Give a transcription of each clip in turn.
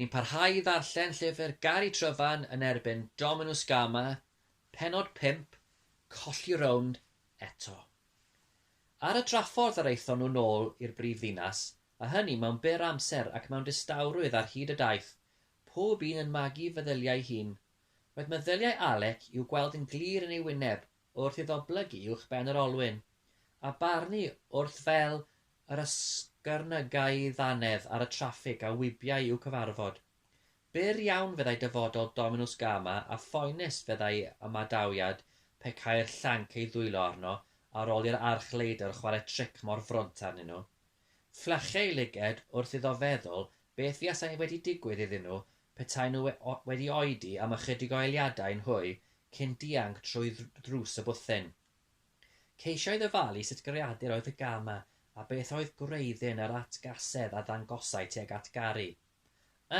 Ni'n parhau i ddarllen llyfr Gari Tryfan yn erbyn Dominws Gama, pennod 5, Colli Rownd Eto. Ar y draffordd yr aethon nhw nôl i'r brif ddinas, a hynny mewn byr amser ac mewn distawrwydd ar hyd y daith, pob un yn magu feddyliau ei hun. Roedd meddyliau Alec i'w gweld yn glir yn ei wyneb wrth iddo blygu uwchben yr olwyn, a barnu wrth fel yr ysgyrnygai ddannedd ar y traffig a wibiai i'w cyfarfod. Byr iawn fyddai dyfodol Dominws Gama a phoenus fyddai ymadawiad pe cai'r llanc ei ddwylo arno ar ol i'r arch-leidr chware tric mor frwnt arnyn nhw. Fflachei lyged wrth iddo feddwl Beth fuasai wedi digwydd iddyn nhw petaen nhw wedi oedi am ychydig o eliadau yn hwy cyn dianc trwy ddrws y bwthyn? Ceisiodd ofalu sut greadur oedd Hygama a beth oedd gwreiddyn yr atgasedd a ddangosai tuag at Gary.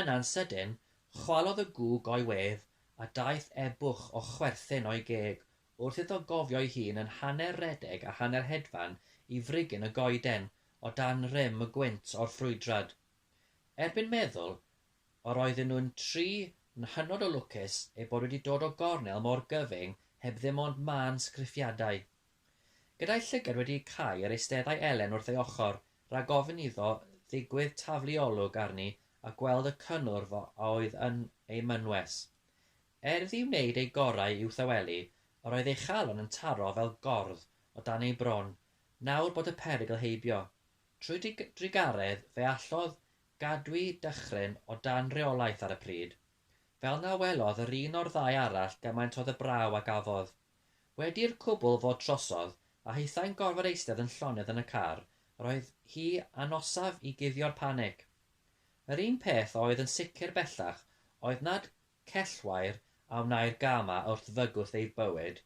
Yna'n sydyn, chwalodd y gŵg o'i wedd a daeth e-bwch o chwerthin o'i geg wrth iddo gofio'i hun yn hanner rhedeg a hanner hedfan i frigyn y goeden o dan rym y gwynt o'r ffrwydrad. Erbyn meddwl, yr oedden nhw'n tri yn hynod o lwcus eu bod wedi dod o gornel mor gyfyng heb ddim ond mân sgriffiadau. Gyda'i llygad wedi cau yr eisteddai Elen wrth ei ochr, rhag ofn iddo ddigwydd taflu olwg arni a gweld y cynnwrf a oedd yn ei mynwes. Er iddi wneud ei gorau i'w thawelu, yr oedd ei chalon yn taro fel gordd o dan ei bron Nawr bod y perygl heibio. Trwy drugaredd fe allodd gadw'i dychryn o dan reolaeth ar y pryd. Fel na welodd yr un o'r ddau arall gymaint o ddybrau a gafodd. Wedi i'r cwbl fod trosodd, a hithau'n gorfod eistedd yn llonydd yn y car, yr oedd hi anosaf i guddio'r panig. Yr un peth a oedd yn sicr bellach oedd nad cellwair a wnâi'r gama wrth fygwth ei bywyd,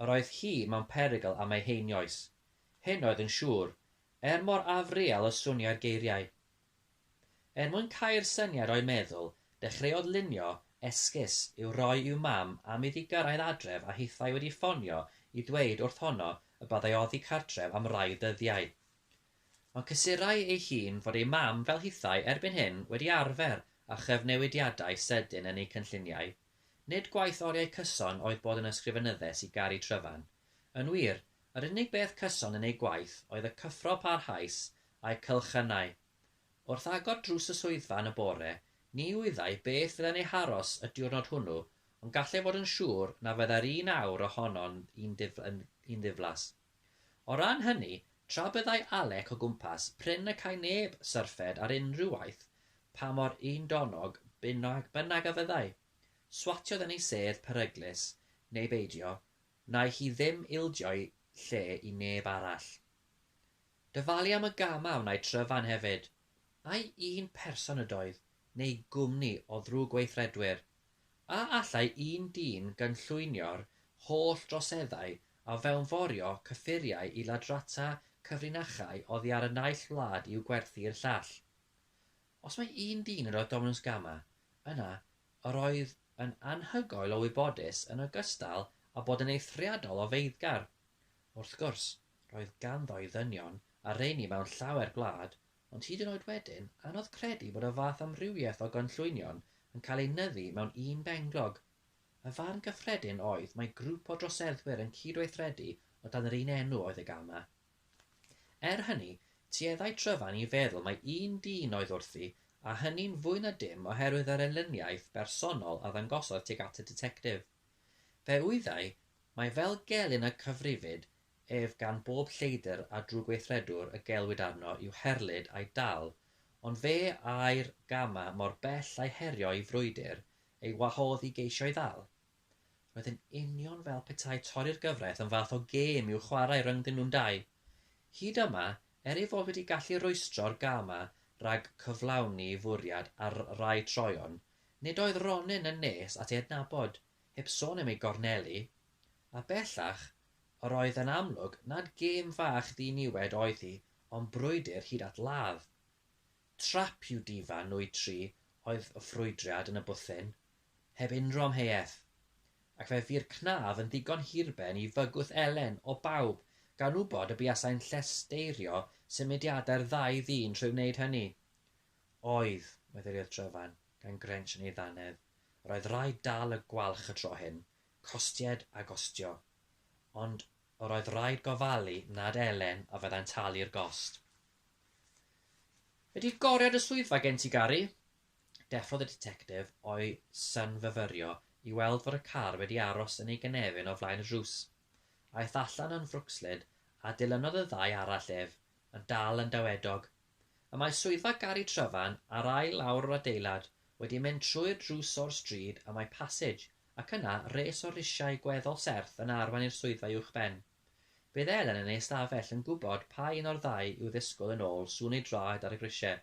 Yr oedd hi mewn perygl am ei heinioes, hyn oedd yn siŵr, er mor afreal y swnioi'r geiriau. Er mwyn cau'r syniad o'i meddwl, dechreuodd lunio esgus i'w roi i'w mam am iddi gyrraedd adref a hithau wedi ffonio i dweud wrth honno y byddai oddi cartref am rai dyddiau. Ond cysurai ei hun fod ei mam fel hithau erbyn hyn wedi arfer â chyfnewidiadau sedyn yn eu cynlluniau. Nid gwaith oriau cyson oedd bod yn ysgrifenyddes i Gari Tryfan. Yn wir, yr unig beth cyson yn ei gwaith oedd y cyffro parhaus a'i cylchynnau. Wrth agor drws y swyddfa yn y bore, ni wyddai beth fyddai'n ei haros y diwrnod hwnnw, ond gallai fod yn siŵr na fyddai'r un awr ohono'n un ddiflas. O ran hynny, tra byddai Alec o gwmpas prin y cai neb syrffed ar unrhyw waith pa mor undonnog bynnag a fyddai, swatiodd yn ei sedd peryglus neu beidio, wnaeth hi ddim ildio'i lle i neb arall. Dyfalu am y gam a wnaed Tryfan hefyd, ai un person ydoedd neu gwmni o ddrwg-weithredwyr? A allai un dyn gynllwynio'r holl droseddau a fewnforio cyffuriau i ladrata cyfrinachau oddi ar y naill wlad i'w gwerthu i'r llall? Os mai un dyn yr oedd Dominws Gama, yna yr oedd yn anhygoel o wybodus yn ogystal â bod yn eithriadol o feiddgar. Wrth gwrs, roedd ganddo ei ddynion a rheiny mewn llawer gwlad Ond hyd yn oed wedyn, anodd credu bod y fath amrywiaeth o gynllwynion yn cael eu nyddu mewn un benglog. Y farn gyffredin oedd mai grŵp o droseddwyr yn cydweithredu o dan yr un enw oedd y Gama. Er hynny, tueddai Tryfan i feddwl mai un dyn oedd wrthi, a hynny'n fwy na dim oherwydd yr elyniaeth bersonol a ddangosodd tuag at y Ditectif. Fe wyddai mai fel gelyn y cyfrifid ef gan bob lleidr a drwgweithredwr y gelwid arno i'w herlid a'i dal, ond fe ai'r gama mor bell a'i herio'i frwydr ei wahodd i geisio'i ddal. Roedd yn union fel petai torri'r gyfraith yn fath o gêm i'w chwarae rhyngddyn nhw'n dau. Hyd yma, er ei fod wedi gallu rwystro'r gama rhag cyflawni fwriad ar rai troeon, nid oedd Ronin yn nes at ei adnabod, heb sôn am ei gornelu, a bellach, Yr oedd yn amlwg nad gêm fach ddiniwed oedd hi ond brwydr hyd at ladd. Trap i'w difa nwy tri oedd y ffrwydriad yn y bwthyn, heb unrhyw amheuaeth, ac fe fu'r cnaf yn ddigon hirben i fygwth Elen o bawb gan wybod y buasai'n llesteirio symudiadau'r ddau ddyn trwy wneud hynny. Oedd, meddyliodd Tryfan, gan grensh yn ei ddannedd, yr oedd rhaid dal y gwalch y tro hyn, Costied a gostio. Ond yr oedd raid gofalu nad Elen a fyddai'n talu'r gost. Ydi goriad y swyddfa gen ti, Gari? Deffrodd y ditectif o'i synfyfyrio i weld fod y car wedi aros yn ei gynefin o flaen y drws. Aeth allan yn frwcslyd a dilynodd y ddau arall ef, yn dal yn dawedog. Y mae swyddfa Gari Tryfan ar ail lawr yr adeilad, wedi mynd trwy'r drws o'r stryd y mae Passage Ac yna, res o risiau gweddol serth yn arwain i'r swyddfa uwchben. Bydd Elen yn ei ystafell yn gwybod pa un o'r ddau i'w ddisgwyl yn ôl sŵn ei draed ar y grisiau.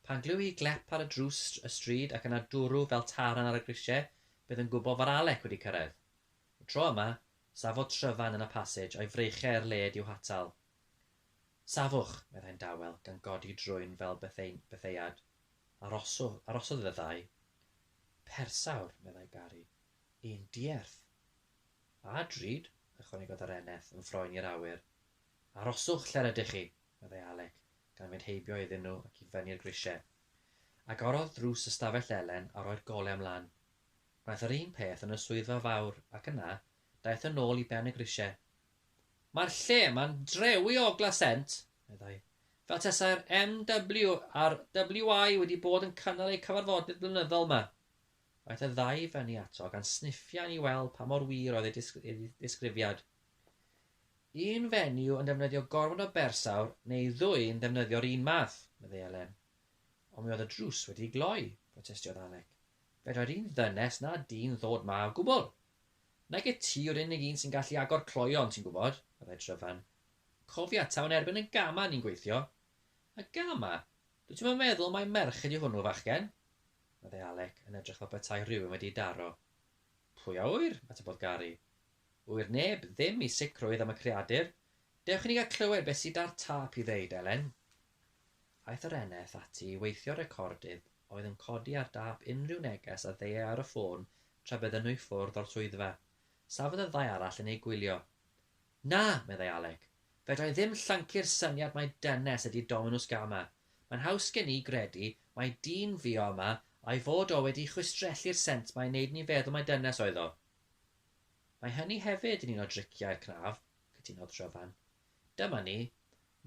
Pan glyw hi glep ar y drws y stryd ac yna dwrw fel taran ar y grisiau, bydd yn gwybod fod Alec wedi cyrraedd. Y tro yma, safodd Tryfan yn y pasij a'i freichiau i'r led i'w hatal. Safwch! meddai'n dawel, gan godi drwyn fel betheu-betheuad. Arosodd, arosodd fyddai. Persawr, meddai Gari. Yn dierth. A drud, ychwanegodd yr eneth yn froen i'r awyr. Aroswch lle'r ydych chi, meddai Alec, gan fynd heibio iddyn nhw ac i fyny'r grisiau. Agorodd drws ystafell Elen a roi'r golau ymlaen. Gwnaeth yr un peth yn y swyddfa fawr ac yna daeth yn ôl i ben y grisiau. Mae'r lle yma'n drewi o ogla sent, meddai. Fel tasai'r MW a'r WI wedi bod yn cynnal eu cyfarfodydd blynyddol 'ma. Aeth y ddau i fyny ato gan sniffian i weld pa mor wir oedd ei ddisgrifiad. Un fenyw yn defnyddio gormod o bersawr neu ddwy'n ddefnyddio'r un math, meddai Elen. Ond mi oedd y drws wedi gloi, protestiodd Alec. Fedrai'r un ddynes na dyn ddod 'ma o gwbl. Nage ti yw'r unig un sy'n gallu agor cloeon, ti'n gwybod, meddai Tryfan, Cofia, taw yn erbyn y gama ni'n gweithio. Y gama? Dwyt ti'm yn meddwl mai merch ydi hwnnw, fachgen? meddai Alec, yn edrych fel petai rhywun wedi'i daro. Pwy a ŵyr? atebodd Gary. Ŵyr neb, ddim i sicrwydd am y creadur. Dewch i ni gael clywed beth sy 'da'r tâp i ddeud, Elen. Aeth yr eneth ati i weithio'r recordydd oedd yn codi ar dâp unrhyw neges a ddeuai ar y ffôn tra bydden nhw i ffwrdd o'r swyddfa. Safodd y ddau arall yn eu gwylio. Na, meddai Alec. Fedrai ddim llyncu'r syniad mai dynes ydi Dominws Gama. Mae'n haws gen i gredu mai dyn fu o yma a'i fod o wedi chwistrellu'r sent mae'n neud ni feddwl mai dynes oedd o. Mae hynny hefyd yn un o driciau'r cnaf, cytunodd Tryfan. Dyma ni,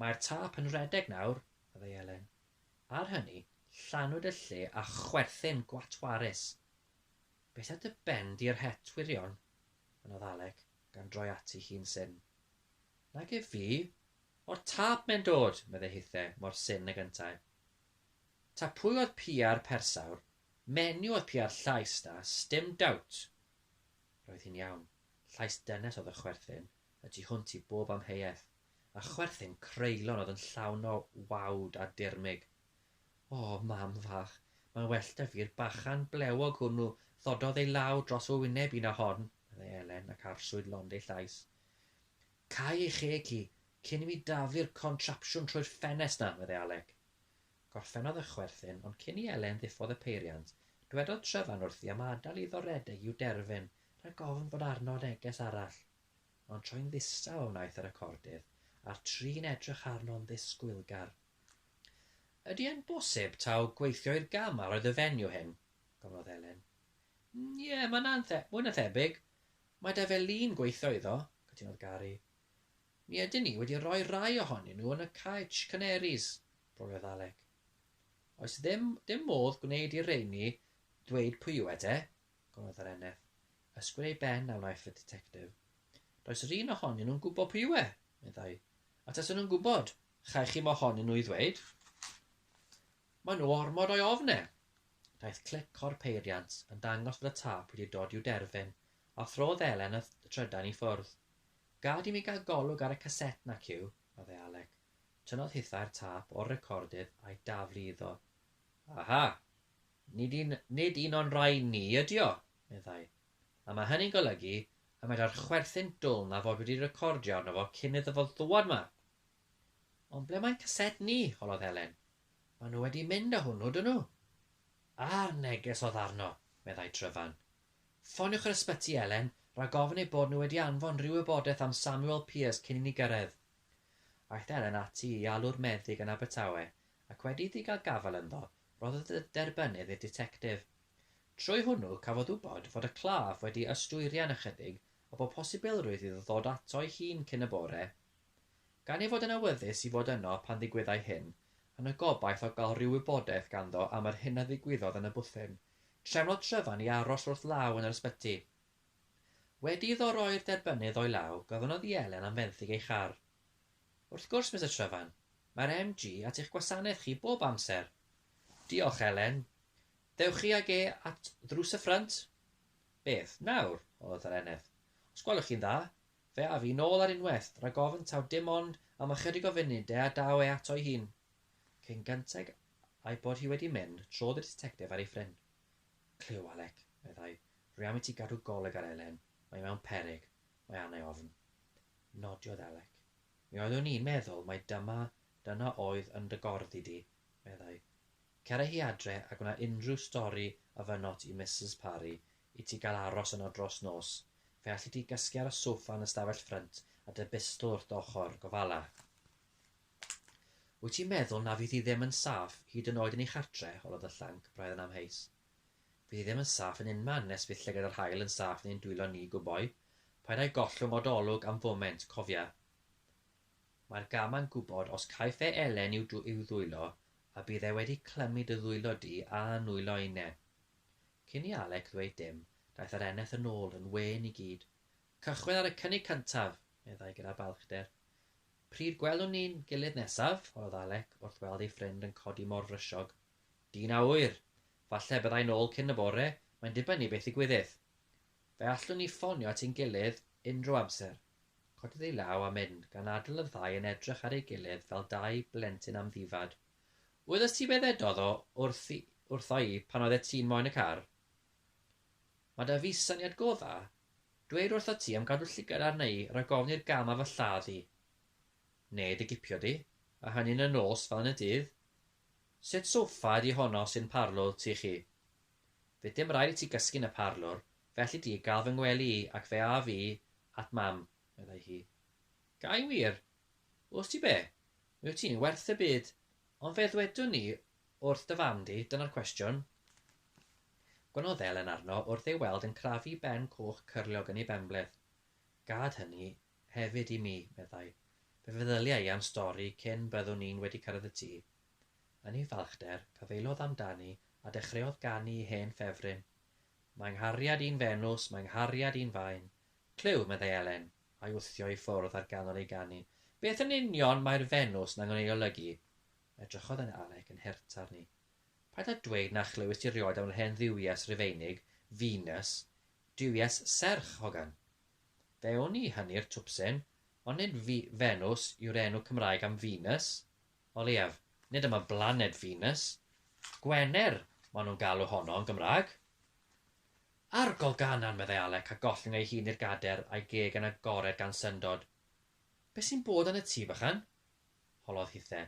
mae'r tâp yn rhedeg nawr, meddai Elen. Ar hynny, llanwyd y lle â chwerthin gwatwarus. Beth a dy ben di yr het wirion? Mynnodd Alec, gan droi ati hi'n syn. Nag ef fi! O'r tâp mae'n dod! meddai hithe, mor syn ag yntau. Ta pwy oedd pia'r persawr, menyw oedd pia'r llais 'na, sdim dowt! Roedd hi'n iawn. Llais dynes oedd y chwerthin, y tu hwnt i bob amheuaeth. A chwerthin creulon oedd yn llawn o wawd a dirmyg. O, mam fach, mae'n well 'da fi'r bachan blewog hwnnw ddododd ei law dros fy wyneb i na hon, meddai Elen ac arswyd lond ei llais. Cau ei cheg hi, cyn i mi dafu'r contrapsiwn trwy'r ffenest 'na, meddai Alec. Gorffennodd y chwerthin, ond cyn i Elen ddiffodd y peiriant, dwedodd Tryfan wrthi am adael iddo redeg i'w derfyn rhag ofn fod arno neges arall. Ond troi'n ddistaw a wnaeth y recordydd, a'r tri'n edrych arno'n ddisgwylgar. Ydy e'n bosib taw gweithio i'r gama roedd y fenyw hyn? gofynnodd Helen. Ie, mae'n anthe-, mwy na thebyg. Mae da fe lun gweithio iddo, cytunodd Gary. Mi ydyn ni wedi rhoi rai ohonyn nhw yn y Caets Canaries, broliodd Alec. Oes ddim dim modd gwneud i'r rheiny ddweud pwy yw e te? gorodd yr eneth. Ysgwyd ei ben a wnaiff y ditectif. Does yr un ohonyn nhw'n gwybod pwy yw e, meddai. A tasen nhw'n gwybod, chaech chi mohonyn nhw i ddweud? Mae nhw ormod o'i ofn e. Daeth clic o'r peiriant yn dangos fod y tâp wedi dod i'w derfyn, a throdd Elen y trydan i ffwrdd. Gad i mi gael golwg ar y caset 'na, Cyw, meddai Alec. Tynnodd hithau'r tâp o'r recordydd a'i daflu iddo. Aha! Nid un, nid un o'n rhai ni ydy o, meddai. A mae hynny'n golygu y medrai'r chwerthin dwl 'na fod wedi recordio arno fo cyn iddo fo ddŵad 'ma. Ond ble mae caset ni? holodd Helen. Maen nhw wedi mynd â hwnnw, 'dyn nhw. A'r neges oedd arno, meddai Tryfan. Ffoniwch yr ysbyty, Elen, rhag ofn eu bod nhw wedi anfon rhyw wybodaeth am Samuel Pearse cyn i ni gyrraedd. Aeth Elen ati i alw'r meddyg yn Abertawe ac wedi iddi gael gafael ynddo, rhoddodd y derbynnydd i'r ditectif. Trwy hwnnw, cafodd wybod fod y claf wedi ystwyrian ychydig a bod posibilrwydd iddo ddod ato'i hun cyn y bore. Gan ei fod yn awyddus i fod yno pan ddigwyddai hyn, yn y gobaith o gael rhyw wybodaeth ganddo am yr hyn a ddigwyddodd yn y bwthyn, trefnodd Tryfan i aros wrth law yn yr ysbyty. Wedi iddo roi'r derbynnydd o'i law, gofynnodd i Elen am fenthyg ei char. Wrth gwrs, Mister Tryfan. Mae'r MG at eich gwasanaeth chi bob amser. Diolch, Elen. Ddewch chi ag e at ddrws y ffrynt? Beth, nawr? odd yr eneth. Os gwelwch chi'n dda? Fe af i nôl ar unwaith, rag ofn taw dim ond am ychydig o funud de a daw e ato'i hun. Cyn gynteg a'i bod hi wedi mynd, trodd y ditectif ar ei ffrin. Clyw, Alec, meddai, rwy am i ti gadw golwg ar Elen. Mae hi mewn peryg. Mae arna i ofn. Nodiodd Alec. Mi oeddwn i'n meddwl mai dyma, dyna oedd yn dy gorddi di, meddai. Cera hi adre a gwna unrhyw stori a fynot i Misus Parry i ti gael aros yno dros nos. Fe alli di gysgu ar y soffa yn y stafell ffrynt a dy bistol wrth dy ochr, gofala. Wyt ti'n meddwl na fydd hi ddim yn saff hyd yn oed yn ei chartre? holodd y llanc, braidd yn amheus. Fydd ddim yn saff yn unman nes bydd llygad yr haul yn saff yn ein dwylo ni, gwboi. Paid â'i gollwng od olwg am foment, cofia. Mae'r gama'n gwybod os caiff e Elen i'w i'w ddwylo, a bydd e wedi clymu dy ddwylo di a nwylo Eine. Cyn i Alec ddweud dim, daeth yr eneth yn ôl yn wên i gyd. Cychwyn ar y cynnig cyntaf! meddai gyda balchder. Pryd gwelwn ni'n gilydd nesaf? holodd Alec wrth weld ei ffrind yn codi mor frysiog. Dyn a ŵyr. Falle y byddai'n ôl cyn y bore, mae'n dibynnu beth ddigwyddith. Fe allwn ni ffonio at ein gilydd unrhyw amser. Codiodd ei law a mynd, gan adael y ddau yn edrych ar ei gilydd fel dau blentyn amddifad. Wyddost ti be ddedodd o wrthi wrtho i pan oeddet ti'n moyn y car? Mae 'da fi syniad go dda. Dweud wrtho ti am gadw llygad arna i rhag ofn i'r gam ar fy lladd i. Neu dy gipio di, a hynny'n y nos fel yn y dydd, Sut soffa ydi honno sy'n parlor ti chi? Fydd dim raid i ti gysgu'n y parlor, felly di gael fy ngwely i ac fe âf i at Mam, meddai hi. Ga i wir? Wst ti be? Mi wyt ti'n werth y byd, ond fe ddwedwn i wrth dy fam di, dyna'r cwestiwn. Gwnodd Elen arno wrth ei weld yn crafu ben coch cyrliog yn ei benbleth. Gad hynny, Hefyd i mi, meddai. Fe feddylia i am stori cyn byddwn ni'n wedi cyrraedd y tŷ. Yn ei falchder, cyfeilodd amdani a dechreuodd ganu i hen ffefryn. Mae 'nghariad i'n Fenws, mae 'nghariad i'n faen. Clyw, meddai Elen, a'i wthio i ffwrdd ar ganol ei ganu. Beth yn union mae'r Fenws 'na'n ei olygu? Edrychodd yna Alec yn hurt arni. Paid â dweud na chlywist ti rioed am yr hen dduwies Rufeinig, Venus. Duwies serch, hogan. Fe wn i hynny'r twpsyn, ond nid Venws yw'r enw Cymraeg am Venus. O leiaf, nid am y blaned Venus. Gwener maen nhw'n galw honno yn Gymraeg. Arogl Ganan, meddai Alec a gollwng ei hun i'r gader a'i geg yn agored gan syndod. Be sy'n bod yn y tŷ, bychan? holodd hithe.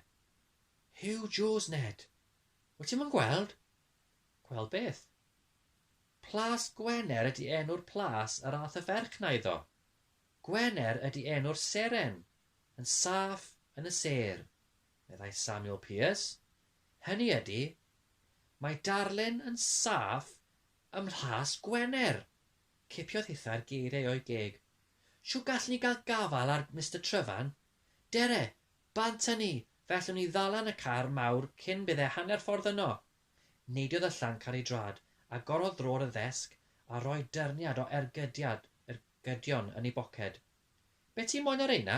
Huw Joes, Ned! Wyt ti'm yn gweld? Gweld beth? Plas Gwener ydy enw'r plas yr ath y ferch 'na iddo. Gwener ydy enw'r seren, yn saff yn y sêr, meddai Samuel Pearce. Hynny ydy, mae darlun yn saff ym Mhlas Gwener! Cipiodd hithau'r geiriau o'i geg. Shw gallwn ni gael gafael ar Mister Tryfan? Dere! Bant â ni, fe allwn ni ddalan y car mawr cyn bydde hanner ffordd yno! Neidiodd y llanc ar ei drad, agorodd drôr y ddesg a rhoi dyrniad o ergydiad ergydion yn ei boced. Be ti moyn â rheina?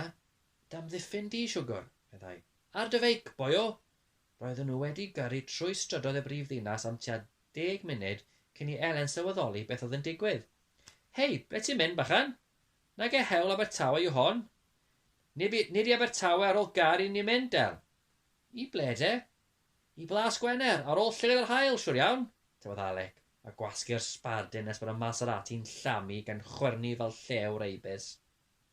D'amddiffyn di, siwgwr, meddai. Ar dy feic, boio! Roedden nhw wedi gyrru trwy strydoedd y brif ddinas am tua deg munud cyn i Elen sylweddoli beth oedd yn digwydd. Hei, ble ti'n mynd, bachan? Nage hewl Abertawe yw hon. Nib i, nid i Abertawe ar ôl gair i ni'n mynd, El. I ble de? I Blas Gwener, ar ôl llygaid yr haul, siwr iawn! tybed Alec, a gwasgu'r sbardun nes bod y Maserati'n llamu gan chwyrnu fel llew reibys.